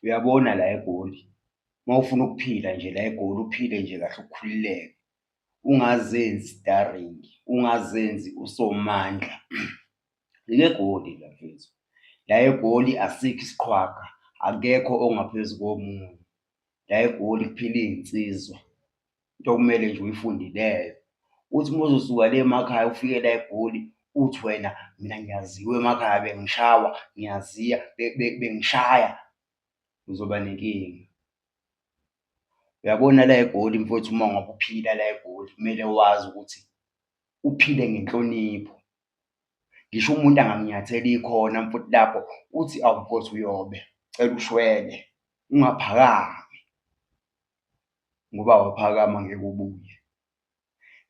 uyabona la egoli uma ufuna ukuphila nje la egoli uphile nje kahle ukhululeke ungazenzi starring ungazenzi usomandla legoli la mfethu la egoli asikho isiqhwaga akekho ongaphezu komunye la egoli kuphila iy'nsizwa into okumele nje uyifunde leyo uthi uma uzosuka le emakhaya ufike la egoli uthi wena mina ngiyaziwa emakhaya bengishawa ngiyaziya bengishaya uzoba nenkinga uyabona la egoli mfowethu uma ngabe uphila la egoli kumele wazi ukuthi uphile ngenhlonipho ngisho umuntu angakunyatheli khona mfuthi lapho uthi awukothi uyobe cela ushwele ungaphakami ngoba waphakama ngeke ubuye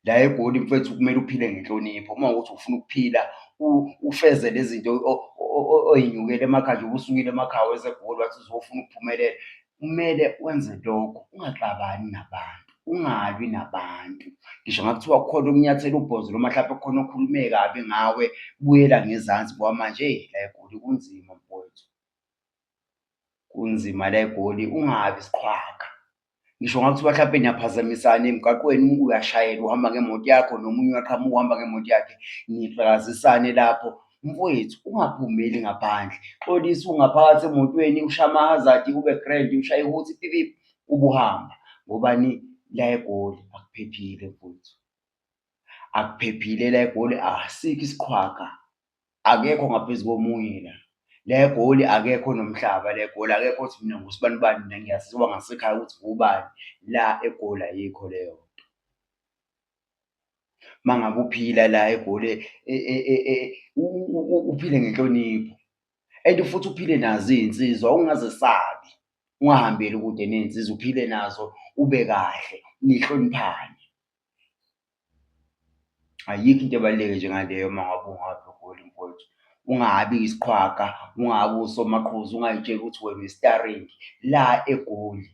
la egoli mfethu kumele uphile ngenhlonipho uma ukuthi ufuna ukuphila ufeze lezi zinto oyinyukele emakhaya njengoba usukile emakhaya wezegoli wathi uzofuna ukuphumelela kumele wenze lokho ungaxabani nabantu ungalwi nabantu ngisho ngakuthiwa khona okunyathela ubhozo noma mhlawumbe khona okhulume kabi ngawe buyela ngezansi ngoba manje la egoli kunzima mfowethu kunzima la egoli ungabi siqhwaga ngisho ngakuthiwa mhlawumpe niyaphazamisana emgaqweni umuntu uyashayela uhamba ngemoto yakho nomunye uyaqhamuka uhamba ngemoto yakhe nifakazisane lapho mfowethu ungaphumeli ngaphandle xolisa ungaphakathi emotweni usha ama-hazard ube grand ushaye ukuthi pipipi ubuhamba ngobani la egoli akuphephile mfowethu akuphephile la egoli asikho isiqhwaga akekho ngaphezu komunye la le goli akekho nomhlaba le goli akekho ukuthi mina ngusibani bani mina ngiyasiziwa ngasekhaya ukuthi ngubani la egoli ayikho leyo nto mangabe uphila la egoli e, e, e, uphile ngenhlonipho and futhi uphile nazo izinsizwa ungazesabi ungahambeli kude ney'nsizwa uphile nazo ube kahle nihloniphane Ayikho into ebaluleke njengaleyo uma ngabe ungaba umholi mfowethu. Ungabi isiqhwaga, ungabi usomaqhuzu, ungay'tsheli ukuthi wena uyisitaringi. La eGoli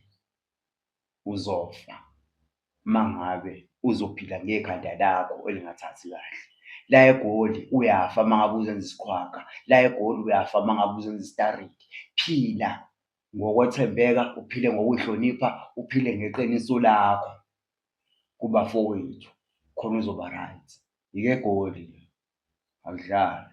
uzofa uma ngabe uzophila ngekhanda lakho elingathathi kahle. La eGoli uyafa uma ngabe uzenza isiqhwaga, la eGoli uyafa uma ngabe uzenza isitaringi. Phila ngokwethembeka, uphile ngokuy'hlonipha, uphile ngeqiniso lakho. kubafowethu khona uzoba-right. Yikegoli le, akudlalwa.